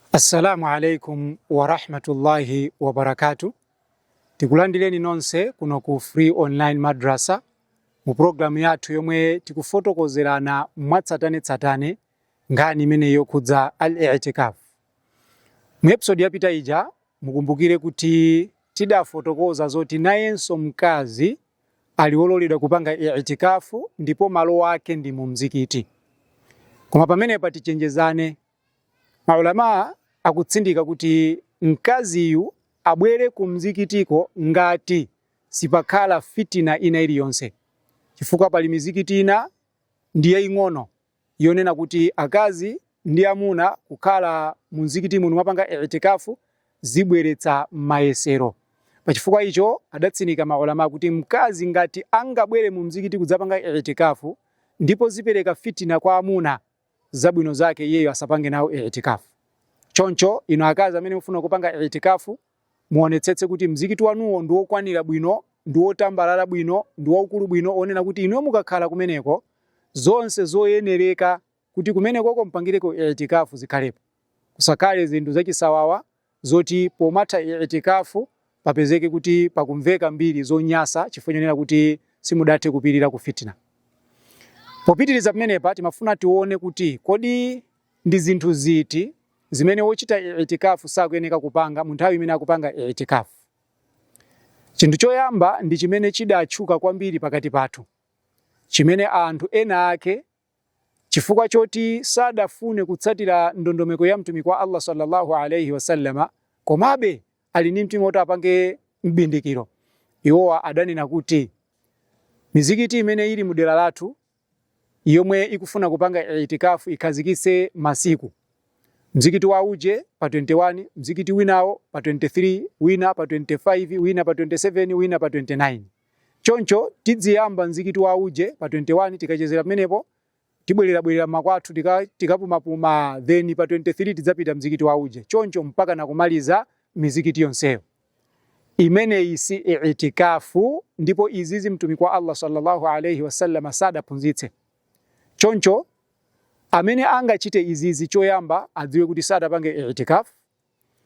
Assalamu alaikum warahmatullahi wabarakatuh. Tikulandireni nonse kuno ku Free Online Madrasa mu programu yathu yomwe tikufotokozerana mwatsatanetsatane nkhani imene yokhudza al-i'tikaf. Mu episode yapita ija mukumbukire kuti tidafotokoza zoti nayenso mkazi ali wololedwa kupanga i'tikafu ndipo malo wake ndi mu mzikiti. Koma pamenepa tichenjezane Ma ulamaa akutsindika kuti mkaziyu abwere ku mzikitiko ngati sipakhala fitina ina iliyonse, chifukwa pali mizikiti ina ndi yaing'ono yonena kuti akazi ndi amuna kukhala mu mzikitimu numapanga I'tikaaf zibweretsa mayesero. Pa chifukwa icho, adatsindika ma ulamaa kuti mkazi ngati angabwere mu mzikiti kudzapanga I'tikaaf ndipo zipereka fitina kwa amuna, zabwino zake iyeyo asapange nawo i'tikaf. Choncho inu akazi amene mufuna kupanga i'tikaf muonetsetse kuti mzikiti wanuwo ndi wokwanira bwino, ndi wotambalala bwino, ndi waukulu bwino onena kuti inuyo mukakhala kumeneko zonse zoyenereka kuti kumenekoko mpangireko i'tikaf zikhalepo. Kusakhale zinthu zachisawawa zoti pomatha I'tikaaf papezeke kuti pakumveka mbiri zonyasa chifukwa chonena kuti simudathe kupirira ku fitna. Popitiriza pamenepa timafuna tione kuti kodi ndi zinthu ziti zimene wochita I'tikaaf sakuyeneka kupanga munthawi imene akupanga I'tikaaf. Chinthu choyamba ndi chimene chidatchuka kwambiri pakati pathu, chimene anthu ena ake Chifukwa choti sadafune kutsatira ndondomeko ya Mtumiki wa Allah swalla Allahu alaih wasallam, komabe ali ndi mtima woti apange m'bindikiro, iwowa adanena kuti, Mizikiti imene ili mu dera lathu yomwe ikufuna kupanga I'tikaaf ikhazikitse masiku. Mzikiti wa uje pa 21, mzikiti winawo pa 23, wina pa 25, wina pa 27, wina pa 29. Choncho tidziyamba mzikiti wa uje pa 21 tikachezera pamenepo tibwererabwerera mmakwathu tikapumapuma then pa 23 tidzapita mzikiti wa uje choncho mpaka nakumaliza mizikiti yonseyo. Imeneyi si itikafu ndipo izizi mtumiki wa Allah sallallahu alaihi wasallam sadaphunzitse. Choncho amene angachite izizi choyamba adziwe kuti sadapange itikafu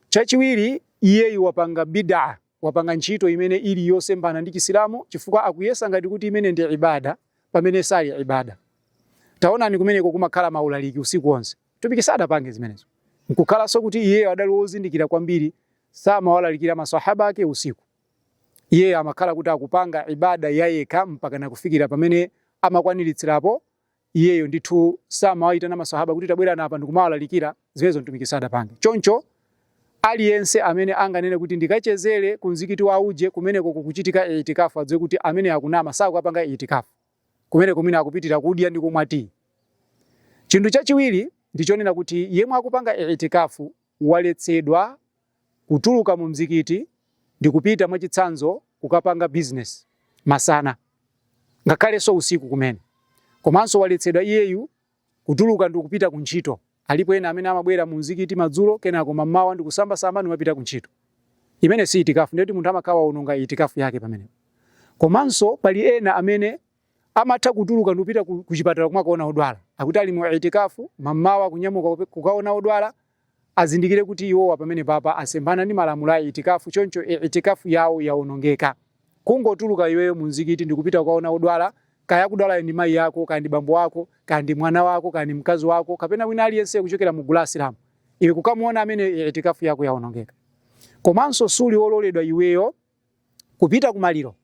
Chachiwiri, iyeyu wapanga bid'ah, wapanga ntchito imene ili yosemphana ndi Chisilamu chifukwa akuyesa ngati kuti imene ndi ibadah pamene sali ibadah. Taonani kumeneko kumakhala ma ulaliki usiku onse. Mtumiki sadapange zimenezo. Nkukhalanso kuti iyeyo adali wozindikira kwambiri samawalalikira ma Swahaba ake usiku. Iyeyo amakhala kuti akupanga ibadah yayekha mpaka nakufikira pamene amakwaniritsirapo iyeyo ndithu samawaitana masahaba kuti tabwerani apa ndikumawalalikira zimenezo mtumiki sadapange choncho aliyense amene anganene kuti ndikachezere ku mzikiti wa uje kumeneko kukuchitika itikafu adziwe kuti amene akunama sakupanga itikafu kumeneko mwina akupitira kudya ndi kumwa tiyi chinthu chachiwiri ndichonena kuti yemwe akupanga itikafu waletsedwa kutuluka mu mzikiti ndikupita mwachitsanzo kukapanga business masana ngakhalenso usiku kumene komanso waletsedwa iyeyu kutuluka ndikupita ku ntchito alipo ena amene amabwera mu mzikiti madzulo kenako mamawa ndikusamba samba n'kumapita ku ntchito imene si itikafu ndiye kuti munthu amakhala waononga itikafu yake pamene komanso pali ena amene amatha kutuluka ndikupita ku, ku chipatala kumakaona odwala akuti ali mu itikafu mamawa kunyamuka kupe- kukaona odwala azindikire kuti iwowa pamenepapa asemphana ndi malamulo a itikafu choncho i- itikafu yawo yaonongeka kungotuluka iweyo mu mzikiti ndikupita kukaona odwala kaya akudwalayo ndi mayi ako kaya ndi bambo wako kaya ndi mwana wako kaya ndi mkazi wako kapena wina aliyense kuchokera mu gulu la asilamu iwe kukamuona amene itikafu yako yaonongeka komanso suli wololedwa iweyo Kupita ku maliro.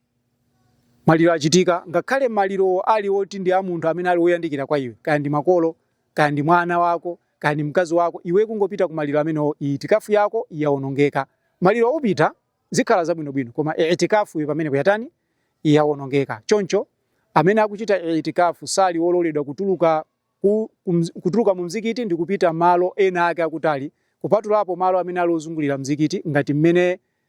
Maliro achitika, ngakhale malirowo ali oti ndi a munthu amene ali woyandikira kwa iwe, kaya ndi makolo, kaya ndi mwana wako, kaya ndi mkazi wako, iwe kungopita ku maliro amenewo, i'tikaaf yako yawonongeka. Maliro upita, zikhala zabwinobwino, koma i'tikaafyo pamenepo yatani? Yawonongeka. Choncho, amene akuchita i'tikaaf sali wololedwa kutuluka ku, ku, kutuluka mu mzikiti ndi kupita malo ena ake akutali, kupatulapo malo amene ali ozungulira mzikiti, ngati mmene